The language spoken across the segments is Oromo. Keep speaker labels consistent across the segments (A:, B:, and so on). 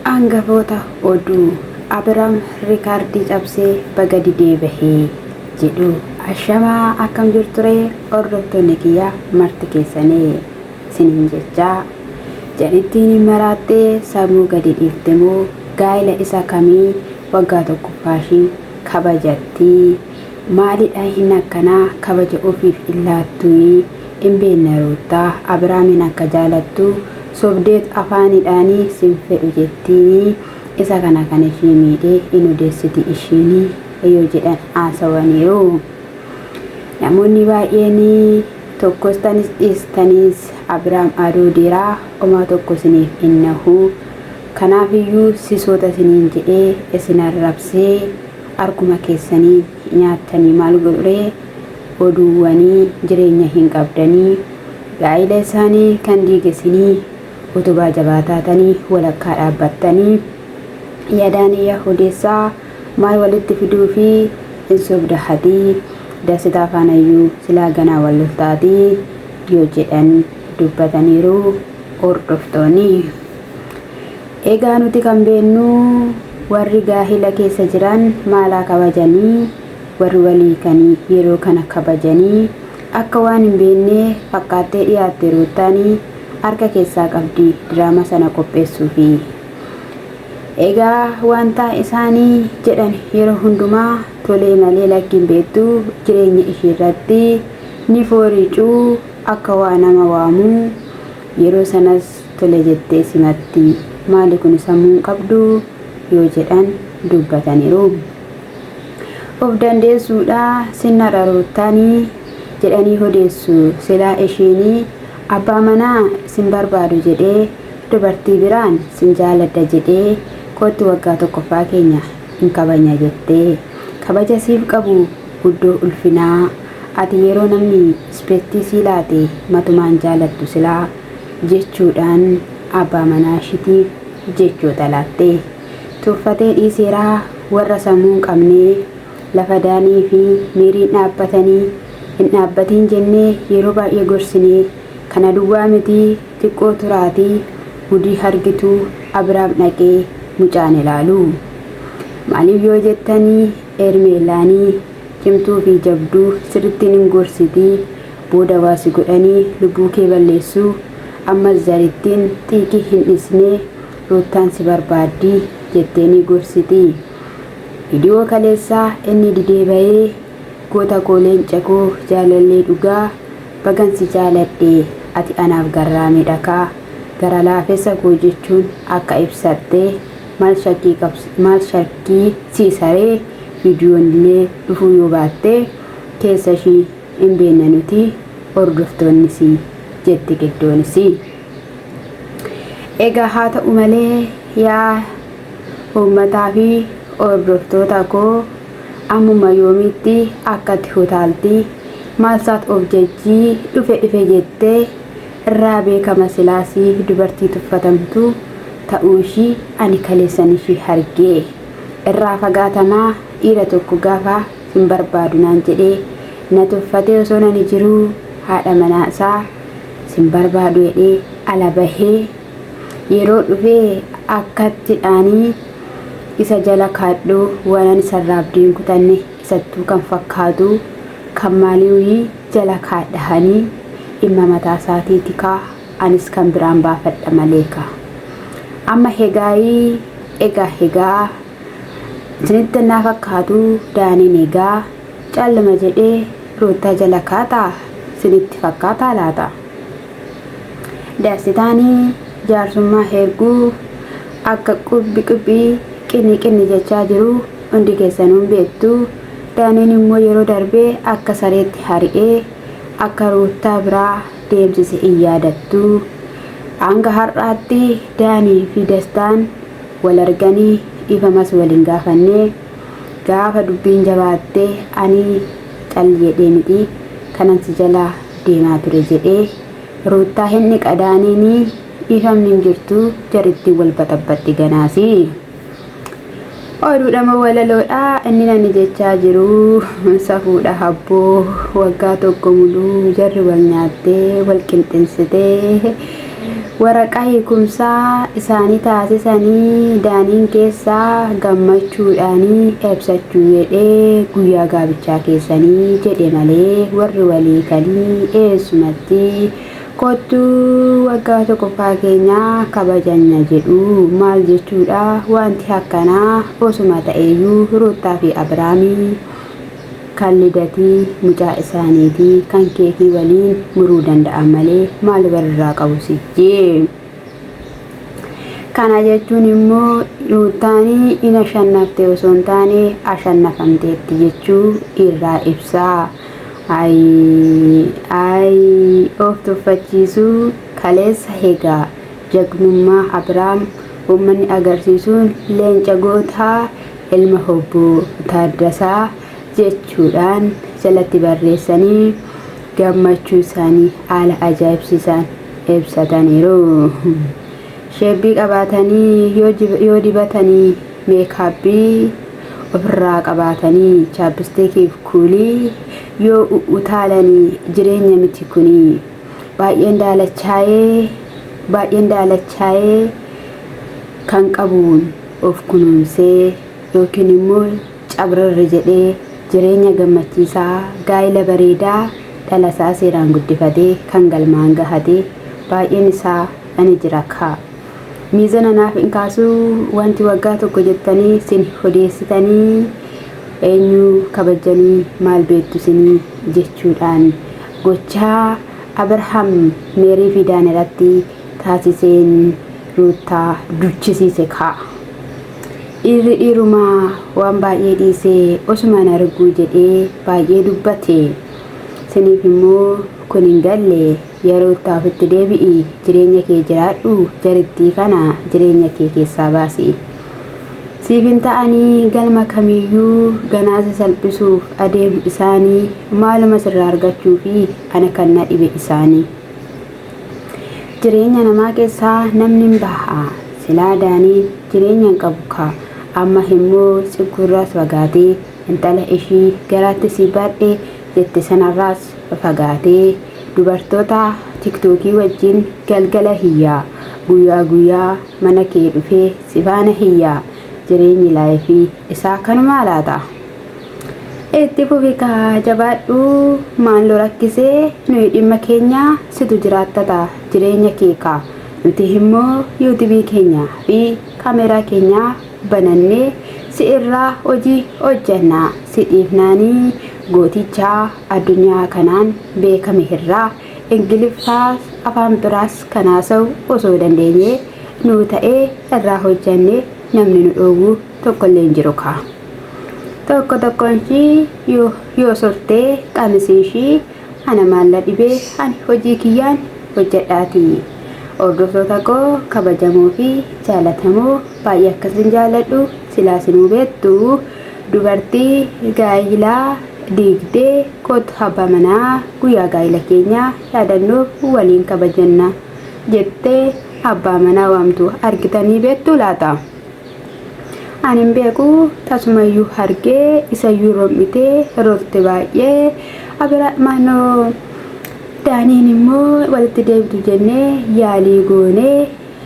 A: Angafoota oduu, Abiraam riikaardii cabsee baga didee bahe jedhu. Ashamaa akkam jirturee hordoftoonni kiyya marti keessanii siniin jechaa jadhittiin hin maraattee sammuu gadi dhiifte moo gaa'ila isa kamii waggaa tokkoffaashii kabajattii maalidha hin akkanaa kabaja ofiif hin laattuuyi hin beenne ruuttaa abiraamiin akka jaalattu Sobdeet afaanidhaani sin fedhu jettiini isa kana kan ishii miidhe in odeessiti ishiini yoo jedhan haasawaniiru. Namoonni baay'een tokkos tanis dhiistanis Abiraam aduu dira omaa tokko isiniif in nahu kanaaf iyyuu sisoota isiniin jedhee isin arrabsee arkuma keessaniin nyaattanii maal godhuree oduuwwanii jireenya hin qabdanii gaa'ila isaanii kan diigesinii utubaa jabaa taatanii walakkaa dhaabbattanii yadaanii yaa odeessaa maal walitti fiduufii hin sobda hatii dasitaa faanayyuu silaa ganaa wal lolta atii yoo jedhan dubbataniiru hordoftoonii egaa nuti kan beennuu warri gaahila keessa jiran maalaa kabajanii Warri wal hiikan yeroo kana kabajanii akka waan hin beennee fakkaattee dhiyaatte Ruuttaan harka keessaa qabdi diraama sana qopheessuufi. Egaa wantaa isaan jedhan yeroo hundumaa tolee malee lakki hin beektu jireenya ishiirratti ni fooriicu akka waa nama waamu yeroo sanas tole jettee simatti. Maali kuni sammuu hin qabdu yoo jedhan dubbataniru. Of dandeessuudha sinnara ruuttaani jedhanii hodeessu silaa eshiini abbaa manaa sin barbaadu jedhee dubartii biraan sin jaaladha jedhee koottu waggaa tokkoffaa keenya hin kabanya jettee kabaja siif qabu guddoo ulfinaa ati yeroo namni ispettii sii laate matumaan jaalattu silaa jechuudhaan abbaa manaa ishitiif jechoota laatte. Tuffatee dhiiseera warra sammuu hin qabnee. Lafa Daanii fi Meeriin dhaabbatanii hin dhaabbatiin jennee yeroo baay'ee gorsinee. Kana duwwaa miti xiqqoo turaatii gudii hargitu Abiraam dhaqee mucaan ilaalu. Maaliif yoo jettanii Eermeellaani cimtuu fi jabduu sirrittiin hin gorsitii booda waa si godhanii lubbuu kee balleessuu. Ammas Zarittiin xiiqii hin dhisnee Ruuttaan si barbaaddi jettee ni gorsiti. Viidiyoo kaleessaa inni didee bahee Goota koo leenca koo jaalallee dhugaa bagan si jaaladhe ati anaaf garraamidha kaa gara laafessa koo jechuun akka ibsatte maal shakkii qabs maal shakkii siisaree viidiyoon illee dhufuu yoo baatte keessa ishii hin beekna nuti hordoftoonnisii jette Giddoonisii. Egaa haa ta'u malee yaa uummataa fi hordoftoota koo ammuma yoomiitti akkatti hutaaltii maalsaat of jajjii dhufe dhufe jettee irraa beekama silaasii dubartii tuffatamtu ta'uu ishii ani kaleessan ishii hargee irraa fagaatamaa dhiira tokko gaafa sin barbaadu naan jedhee na tuffatee osoo nani jiruu haadha manaa isaa sin barbaadu jedhee ala bahee yeroo dhufe akkatti dhaanii isa jala kaadhu wanan isarraa abdii hin kutanne isattuu kan fakkaatu kan maaliiwii jala kaadhahanii dhimma mataa isaatii tikaa anis kan biraan baafadha malee ka amma hegaayii egaa hegaa isinitti naa fakkaatu daaniin egaa Cal lama jedhee ruuttaa jala kaataa sinitti fakkaataa laata? Dassitaani jaarsummaa heerguu akka qubbi qubbi qinni qinni jechaa jiru hundi keessanuu hin beektu. Daaniin immoo yeroo darbe akka sareetti hari'ee akka ruuttaa biraa deemsise hin yaadattu. Hanga har'aatti Daanii fi Dastaan wal arganii dhiifamas wal hin gaafanne. Gaafa dubbiin jabaatte ani cal jedhee miti kanan si jala deemaa ture jedhee Ruuttaa hin dhiqadaaniin dhiifamni hin jirtu jarittiin wal baxabbaxxi ganaasi. Oduudha moo walaloodha inni nani jechaa jiru safuudha habboo waggaa tokko muluu jarri wal nyaattee wal qinxinsitee Waraqaa hiikumsaa isaanii taasisanii Daaniin keessaa gammachuudhaanii ebsachuu jedhee guyyaa gaabichaa keessanii jedhe malee warri walii kanii eessumatti kottu waggaa tokkoffaa keenya kabajanya jedhu maal jechuudha wanti hakkanaa osuma ta'eeyyuu Ruuttaa fi Abiraamii kan lidatii mucaa isaaniitii kan keetii waliin muruu danda'an malee maal walirraa qabu sijjii kana jechuun immoo ruuttaanii in ashannafte osoo hin taane ashannafamteetti jechuu irraa ibsaa ay ay of tuffachiisuu kaleessa hegaa jagnummaa abiraam ummanni agarsiisuun leenca gootaa ilma Obbo Taaddasaa jechuudhaan jalatti barreessanii gammachuu isaanii haala ajaa'ibsiisaan ibsataniiru. Sheebbii qabaatanii yoo jib- yoo dibatanii meekaabbii ofirraa qabaatanii chaapistikiif kuulii yoo u- utaalanii jireenya miti kuni baay'een daalachaa'ee baay'een daalachaa'ee kan qabuun of kunuunsee yookiin immoo cabrarri jedhee jireenya gammachiisaa, gaa'ila bareedaa dhalasaa seeraan guddifatee kan galmaan gahate baay'een isaa ani jira kaa. Miizana naaf hin kaasuu wanti waggaa tokko jettanii sin hodeessitanii eenyu kabajjanii maal beektu sinii jechuudhaan gochaa Abrahaam Meerii fi Daan irratti taasiseen Ruuttaa duchisiise kaa. Dhiirri dhiirumaa waan baay'ee dhiisee osumaan arguu jedhee baay'ee dubbate. Siniif immoo kun hin galle yaa Ruuttaa ofitti deebi'i jireenya kee jiraadhu jarittii kana jireenya kee keessaa baasi. Siif hin ta'anii galma kamiiyyuu ganaa si salphisuuf adeemu isaanii maaluma sirraa argachuufi ana kan na dhibe isaanii. jireenya namaa keessaa namni hin baha silaa daanii jireenya hin qabu kaa amma immoo tsigguurraas fagaatee intala ishii garaatti sii baadhe jette sanarraas fagaatee dubartoota tiktookii wajjin galgala hiyyaa guyyaa guyyaa mana kee dhufee sifaana hiyyaa jireenyi laayifii isaa kanumaa laata. Itti fufi kaa jabaadhu maallu rakkisee nuyi dhimma keenya situ jiraattata jireenya kee kaa nuti immoo yuutubii keenya fi kaameeraa keenya banannee si irraa hojii hojjanna si dhiifnaanii gooticha addunyaa kanaan beekame irraa ingiliffaas afaan biraas kan haasa'u osoo dandeenyee nuu ta'ee irraa hojjanne namni nu dhoowwu tokkollee hin jiru kaa. Tokko tokkoon ishii yoo, yoo sortee qamisii ishii ana maalla dhibee ani hojii kiyyaan hojjedhaati. Hordoftoota koo kabajamoo fi jaalatamoo baay'ee akkasin jaaladhu silaa sinuu beektu dubartii gaa'ilaa diigdee kootu abbaa manaa guyyaa gaa'ila keenyaa yaadannoof waliin kabajanna jettee abbaa manaa waamtu argitanii beektu laata? Ani hin beeku tasumayyuu hargee isayyuu rom'itee rorte baay'ee abiraadhmaanoo daaniin immoo walitti deebitu jennee yaalii goonee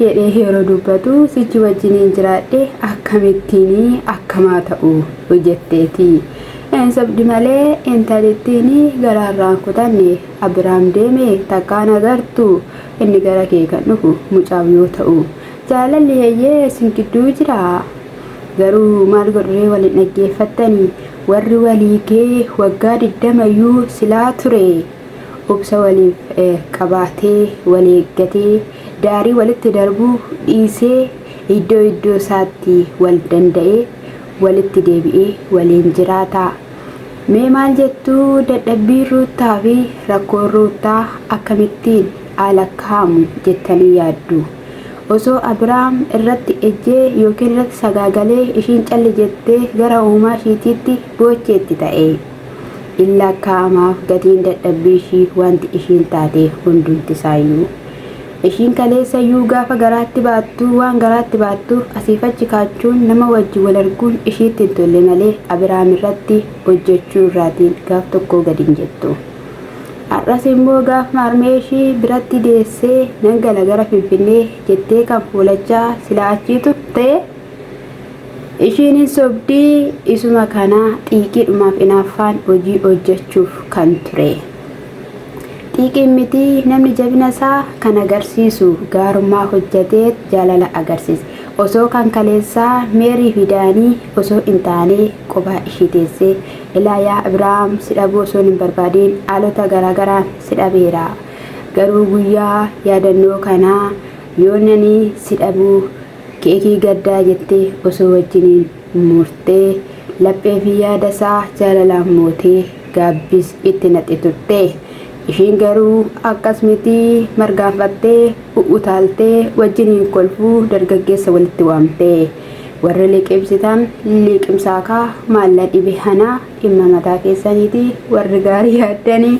A: jedhee yeroo dubbatu sichi wajjiniin jiraadhe akkamittiin akkamaa ta'u jetteeti. Een sobdi malee intalittiin garaarraan kutanne abiraam deeme takkaan agartu inni gara kee kan dhufu mucaaf yoo ta'u Jaalalli heyyee isin gidduu jira. Garuu maal godhuree wal hin dhaggeeffattani warri walii gee waggaa digdama iyyuu silaa ture obsa waliif qabaatee wal eeggatee daarii walitti darbuu dhiisee iddoo iddoo isaatti wal danda'ee walitti deebi'ee waliin jiraata. Mee maal jettu dadhabbiin Ruuttaa fi rakkoon Ruuttaa akkamittiin haa lakkaa'amu jettanii yaaddu? Osoo Abraam irratti ejjee yookiin irratti sagaagalee ishiin calli jettee gara uumaa ishiitiitti boocheetti ta'ee, in laakkaa'amaaf gatiin dadhabbii ishii wanti ishiin taateef hundumti isaayyuu. Ishiin kaleessa iyyuu gaafa garaatti baattu waan garaatti baattuuf asiif achi kaachuun nama wajji wal arguun ishiitti hin tolle malee Abraam irratti hojjechuu irraatiin gaaf tokkoo gad hin jettu. Har'as immoo gaafuma harmee ishii biratti deessee nan gala gara Finfinnee jettee kan fuulachaa silaa achii turtee ishiin hin sobdii isuma kanaa xiiqiidhumaaf inaaffaan hojii hojjechuuf kan ture. Xiiqiin miti namni jabina isaa kan agarsiisu gaarummaa hojjetee jaalala agarsiise. Osoo kan kaleessaa meerii fi daanii osoo hin taanee qophaa ishii teessee Ilaa yaa Abrahaam, si dhabuu osoon hin barbaadin haalota garaagaraan si dhabeera. Garuu guyyaa yaadannoo kanaa yoo nani si dhabuu keekii gaddaa jettee osoo wajjiniin murtee laphee fi yaada isaa jaalalaan mootee gaabbis itti naqxi turte. Ishiin garuu akkas miti margaanfattee u'utaaltee wajjiniin kolfuu dargaggeessa walitti waamte. Warri liqimsitan liqimsaa kaa maalla dhibe hanaa dhimma mataa keessaniiti warri gaarii yaaddanii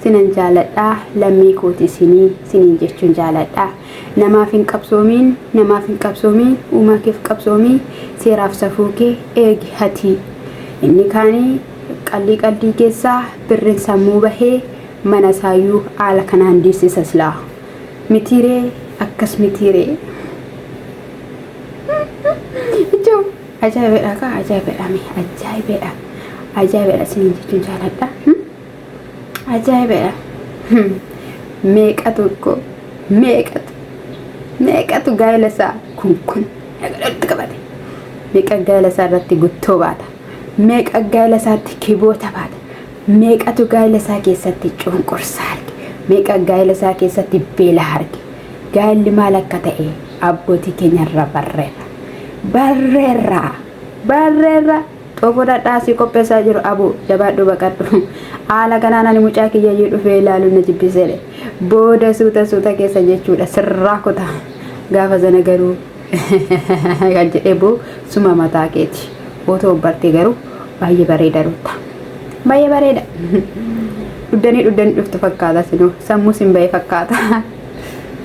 A: sinan jaaladha lammii kooti isinii siniin jechuun jaaladha namaaf hin qabsoomiin namaaf hin qabsoomiin uumaa keef qabsoomii seeraaf safuu kee eegi hatii inni kaanii qallii qaldii keessaa birrin sammuu bahee mana isaayyuu haala kanaan diissisa silaa mitiiree akkas mitiiree. Ajaa'ibedha kaa ajaa'ibedha mee ajaa'ibedha ajaa'ibedha isiniin jechuun jaaladha ajaa'ibedha meeqa tokko meeqatu meeqatu gaa'ela isaa kun kun dhaqadhatti qabate meeqa gaa'ela isaa irratti guttoo baata meeqa gaa'ela isaatti kiboota baata meeqatu gaa'ela isaa keessatti cunqursaa arge meeqa gaa'ela isaa keessatti beela arge Gaa'elli maal akka ta'e abbootii keenya irraa barreerra. Barreerra! Barreerra! Xoofoo dhadhaa sii qopheessaa jiru abuu jabaadhu baqadhu. Haala kanaan ani mucaa kiyyayyuu dhufee ilaaluun na jibbiseedhe. Booda suuta suuta keessa jechuudha sirraa kuta. Gaafa sana garuu kan jedhee boo suma mataa keeti otoo bartee garuu baay'ee bareeda rutta baay'ee bareeda dhuddanii dhuddanii dhuftu fakkaata sinoo sammuu sin ba'e fakkaata.